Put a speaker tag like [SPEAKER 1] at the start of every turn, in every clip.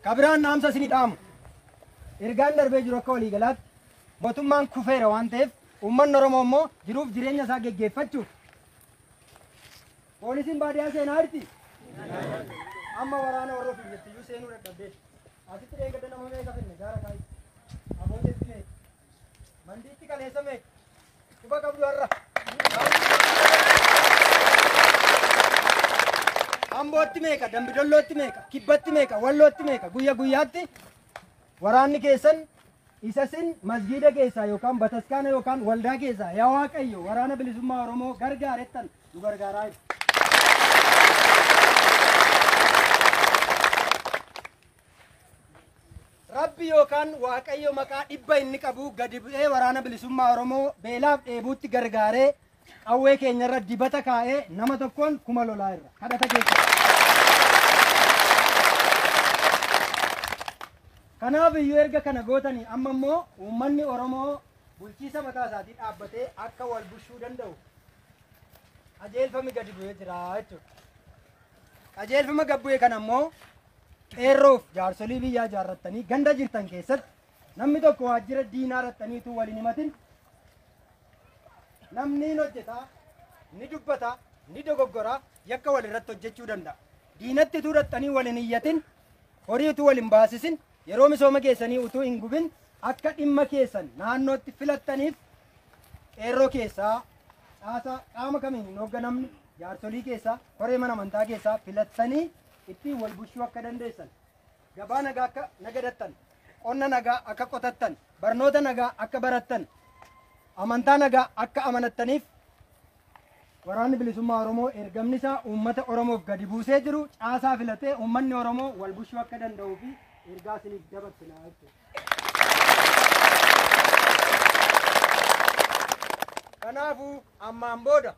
[SPEAKER 1] Kabiraan dhaamsa isinii dhaamu. Ergaan darbee jiru akka waliigalaatti mootummaan kufeera waan ta'eef uummanni Oromoo immoo jiruuf jireenya isaa geggeeffachuuf poolisiin baadiyyaa seenaa jirti. Amma waraana warra ofiif jettiyyuu seenuu dadhabdee. Asitti deeggarda nama meeqa finne gaara kaa'i. Abooteetti meeqa. Mandiitti kaleessa meeqa? Quba qabdu har'a. Ambootti meeqa? Dambidollootti meeqa? Kibbatti meeqa? Wallootti meeqa? Guyya guyyaatti waraanni keessan isa sin masgiida keessaa yookaan bataskaana yookaan waldaa keessaa yaa waaqayyo waraana bilisummaa Oromoo gargaarettan nu gargaaraa jiru. Rabbi yookaan Waaqayyo maqaa dhibba inni qabu gadi bu'ee waraana bilisummaa Oromoo beelaaf dheebuutti gargaaree qawwee keenyarra dibata kaa'ee nama tokkoon kuma lolaa irra kadhata keessa. Kanaaf iyyuu erga kana gootanii amma immoo uummanni Oromoo bulchiisa mataa isaatii dhaabbatee akka wal bulchuu danda'u qajeelfami gadi bu'ee jira jechuudha. Qajeelfama gad bu'e kana immoo Qeerroof jaarsolii biyyaa ijaarrattanii ganda jirtan keessatti namni tokko waajjira diinaa dhaxxanii utuu waliin himatin namni hin hojjetaa ni dubbata ni dogoggora yakka walirratti hojjechuu danda'a. Diinatti utuu dhaxxanii waliin iyyatin horii utuu waliin baasisin yeroo misooma keessanii utuu hin gubin akka dhimma keessan naannootti filattaniif qeerroo keessaa caasaa qaama kamiin hin hoogganamne jaarsolii keessaa koree mana amantaa keessaa filattanii ittiin wal bulchuu akka dandeessan, gabaa nagaa akka nagadattan, qonna nagaa akka qotattan, barnoota nagaa akka barattan, amantaa nagaa akka amanattaniif waraanni bilisummaa Oromoo ergamni isaa uummata Oromoof gadi buusee jiru caasaa filatee uummanni Oromoo wal bulchuu akka danda'uu fi ergaa isiniif dabarsina jechuudha. Kanaafuu ammaan booda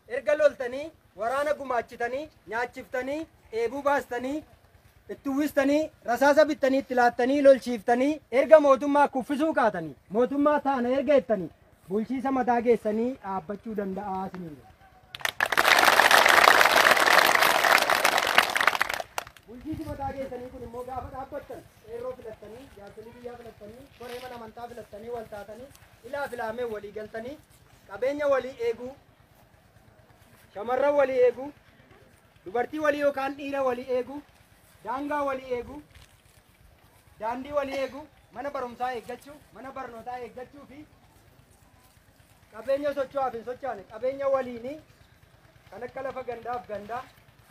[SPEAKER 1] Erga loltanii, waraana gumaachitanii, nyaachiftanii, dheebuu baastanii, itti uwwistanii, rasaasa bittanii itti laattanii, lolchiiftanii, erga mootummaa kuffisuu kaatanii, mootummaa taana erga jettanii, bulchiisa mataa keessanii dhaabbachuu danda'aa isiniin jedha. Bulchiisi mataa keessanii kun immoo gaafa dhaabbattan qeerroo filattanii, jaarsolii biyyaa filattanii, koree mana amantaa filattanii, wal taatanii, ilaa filaamee walii galtanii, qabeenya walii eeguu, shamarran walii eeguu, dubartii walii yookaan dhiira walii eeguu, daangaa walii eeguu, daandii walii eeguu, mana barumsaa eeggachuu, mana barnootaa eeggachuu fi qabeenya socho'aaf hin socho'ane qabeenya waliinii kan akka lafa gandaaf gandaa,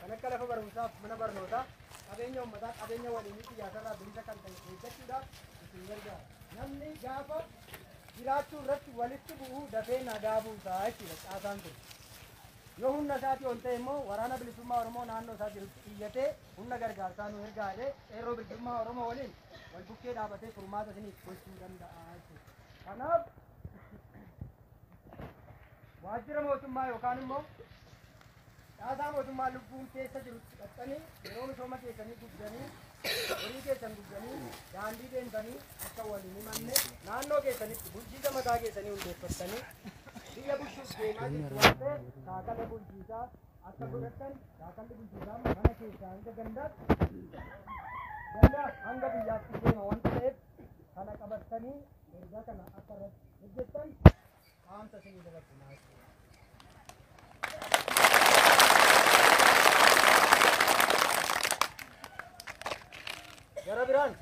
[SPEAKER 1] kan akka lafa barumsaaf mana barnootaa, qabeenya uummataa qabeenya waliinii siyaasarraa bilisa kan ta'e eeggachuudhaaf isin gargaara. Namni gaafa jiraachuu irratti walitti bu'uu dafee nagaa buusa jechuudha caasaan kun. Yoo humna isaatii ol ta'e immoo waraana bilisummaa Oromoo naannoo isaa jirutti iyyatee humna gargaarsaa nu ergaa jedhee qeerroo bilisummaa Oromoo waliin wal bukkee dhaabatee furmaata isiniif gochuu danda'a jechuudha. Kanaaf waajjira mootummaa yookaan immoo Caasaa mootummaa lubbuun keessa jirutti siqattanii yeroo misooma keessanii gubdanii horii keessan gubdanii daandii deemtanii akka wal hin himanne naannoo keessanitti bulchiisa mataa keessanii hundeeffattanii biyya bulchuuf deemaa jirtu waan ta'eef shaakala bulchiisaa akka godhattan shaakalli bulchiisaa mana keessaa hanga gandaatti gandaa hanga biyyaatti deema waan ta'eef kana qabattanii ergaa kana akka irratti hojjettan Gara biraan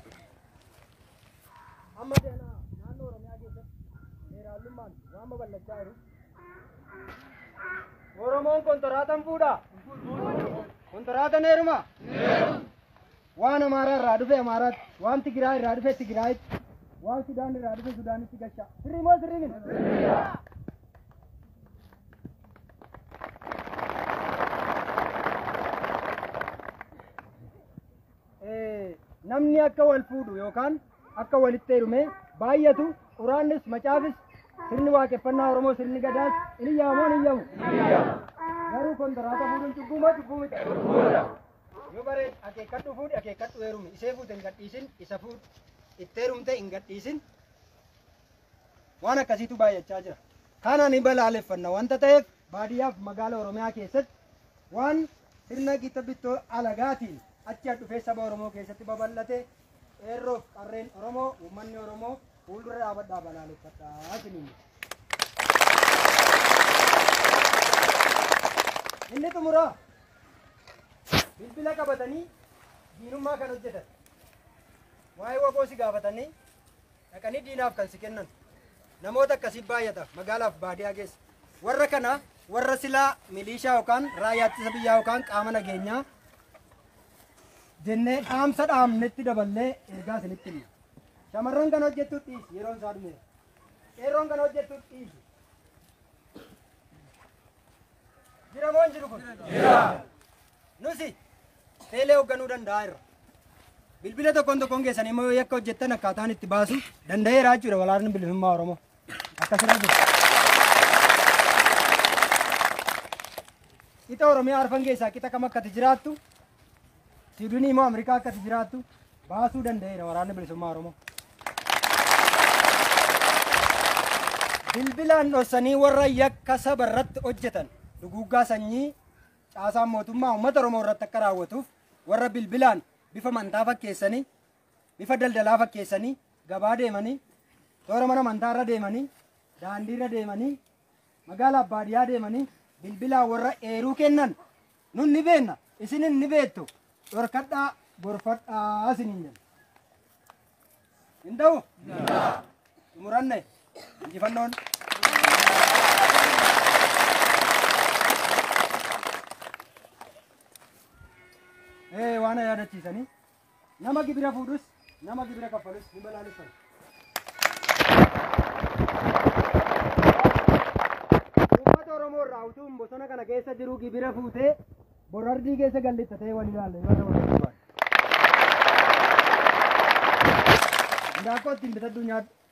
[SPEAKER 1] amma deemaa naannoo Oromiyaa keessatti seeraalummaan waan babal'achaa jiru. Oromoon kontiraatan fuudha. Kontiraatan heeruma. Waan Amaaraa irraa dhufe Amaaraatti, waan Tigiraay irraa dhufe Tigiraayitti, waan Sudaan irraa dhufe Sudaanitti galchaa. Sirrii moo sirrii miti? Eh, Namni akka wal fuudhu yookaan akka walitti heerume baay'atu quraannis macaafis sirni waaqeffannaa Oromoo sirni gadaas in iyyaamoo hin iyyamu. Garuu kontiraata fuudhuun cubbuu moo cubbuu miti? Yoo bareed akeekkadhu fuudhi akeekkadhu heerumi isee fuute hin gadhiisin isa fuudhu itti heerumte hin gadhiisin waan akkasiitu baay'achaa jira. Kana ni balaaleffanna wanta ta'eef baadiyyaaf magaala Oromiyaa keessatti waan sirna gita bittoo alagaatiin achi dhufee saba Oromoo keessatti babal'ate eerroof qarreen Oromoo uummanni Oromoo fuuldura dhaabadhaa balaaleffadhaa isiniin. Inni xumuraa Bilbila qabatanii diinummaa kan hojjetan. Waa'ee waboo si gaafatanii dhaqanii diinaaf kan si kennan. Namoota akkasii baay'ata magaalaaf baadiyaa keessa. Warra kana warra silaa miliishaa yookaan raayyaa ittisa biyyaa yookaan qaama nageenyaa jennee dhaamsa dhaamnetti daballee ergaa isinitti himna. Shamarran kan hojjettu dhiisi yeroon isaa dhumeera. Qeerroon kan hojjettu dhiisi. Jiramoon jiru kun. Jira. Nusi teelee hoogganuu danda'a irra. Bilbila tokkoon tokkoon keessan immoo yoo yakka hojjettan akkaataan itti baasu danda'eera jechuudha walaarni bilisummaa Oromoo. Akkasirra jiru. Qixa Oromiyaa arfan keessaa qixa kam akkati jiraattu Siidunii immoo Ameerikaa akka itti jiraattu baasuu danda'eera waraanni bilisummaa Oromoo. Bilbilaan dhossanii warra yakka saba irratti hojjetan duguuggaa sanyii caasaan mootummaa uummata Oromoo irratti akka raawwatuuf warra bilbilaan bifa amantaa fakkeessanii bifa daldalaa fakkeessanii gabaa deemanii toora mana amantaa irra deemanii daandii irra deemanii magaalaa baadiyyaa deemanii bilbilaan warra eeruu kennan Nun ni beenna, isinin ni beettu, dhorkadhaa, gorfadhaa isiniin jenna. Hin ta'u? Xumuranne injifannoon. Ee waan na yaadachiisanii Nama gibira fuudhus, nama gibira kaffalus hin balaaleffatu. Uummata Oromoo irraa utuun bosona kana keessa jiru gibira fuutee borardii keessa gallitta ta'ee wal ilaalle yoo ta'u ta'u baate. Indaaqqoo ittiin bitadhu nyaadhu.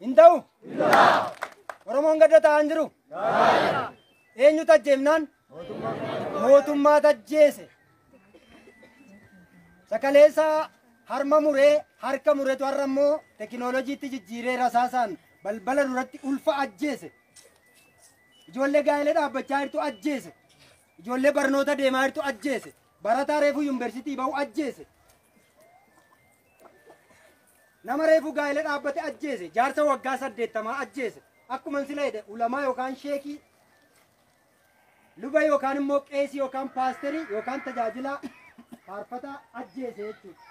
[SPEAKER 1] Hin ta'u? Oromoon gadda ta'aa hin jiru? Eenyu tajjeefnaan? Mootummaa tajjeese. Sakaleessaa harma muree harka muretu har'a immoo tekinooloojiitti jijjiiree rasaasaan balbala duratti ulfa ajjeese. Ijoollee gaa'ela dhaabbachaa jirtu ajjeese. Ijoollee barnoota deemaa jirtu ajjeese. Barataa reefuu yuunivarsiitii ba'u ajjeese. Nama reefu gaa'ila dhaabbate ajjeese, jaarsa waggaa saddeettamaa ajjeese. Akkuman sila jedhe ulamaa yookaan sheekii luba yookaan immoo qeesii yookaan paasterii yookaan tajaajilaa faarfataa ajjeese jechuudha.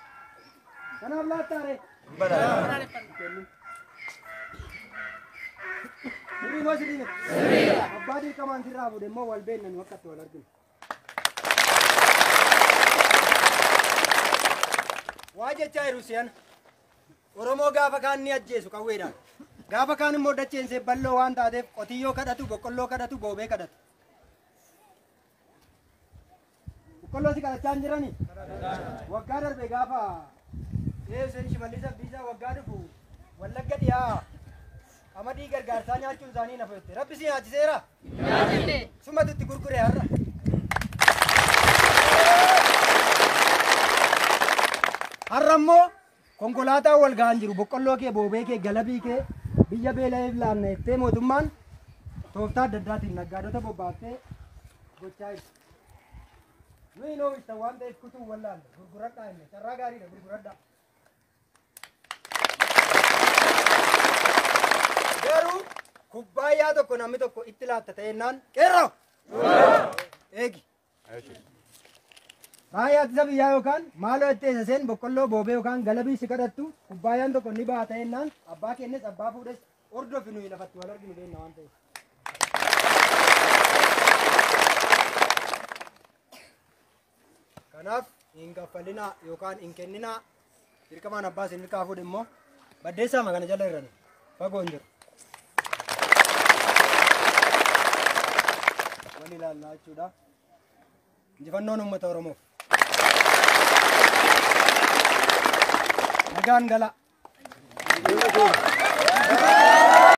[SPEAKER 1] Kanaaf laattaare. Sirrii moo sirrii miti? Abbaa dirqamaan sirraa fuudhe immoo wal beekna nu akka itti wal arginu. Waa jechaa jiru si'an. Oromoo gaafa kaan ni ajjeesu qawweedhaan. Gaafa kaan immoo dacheen see bal'oo waan taateef qotiyyoo kadhatu, boqqolloo kadhatu, boobee kadhatu. Boqqolloo si kadhachaa hin jirani? Waggaa darbe gaafa Ee Hussein Shimallis Abdiisaa waggaa dhufu Wallagga dhiyaa qamadii gargaarsaa nyaachuun isaanii na fudhatte. Rabbi si nyaachiseera? Nyaachifne. Sumatu itti gurgure har'a. Har'a immoo konkolaataan wal ga'an jiru. Boqqolloo kee, boobee kee, galabii kee biyya beela'eef laanna jettee mootummaan tooftaa adda addaatiin naggaadota bobbaaftee gochaa jirti. Nuyi hin oomishtan waan ta'eef kutuu wallaalle gurguradhaa inni carraa gaariidha gurguradhaa. Garuu kubbaayyaa tokko namni tokko itti laatta ta'ennaan qeerroo. Eegi. Raayyaa ittisa biyyaa yookaan maaloo itti eessaseen boqqolloo boobee yookaan galabii si kadhattu kubbaayyaan tokko ni baha ta'ennaan abbaa kennes abbaa fuudhes hordofi nuyi lafatti wal arginu beekna waan ta'eef. Kanaaf hin kaffalinaa yookaan hin kenninaa dirqamaan abbaa isin irkaa fuudhe immoo baddeessaama kana jala irrani fagoo hin jiru. Wal ilaallaa jechuudha. Injifannoon uummata Oromoof. Nagaan gala.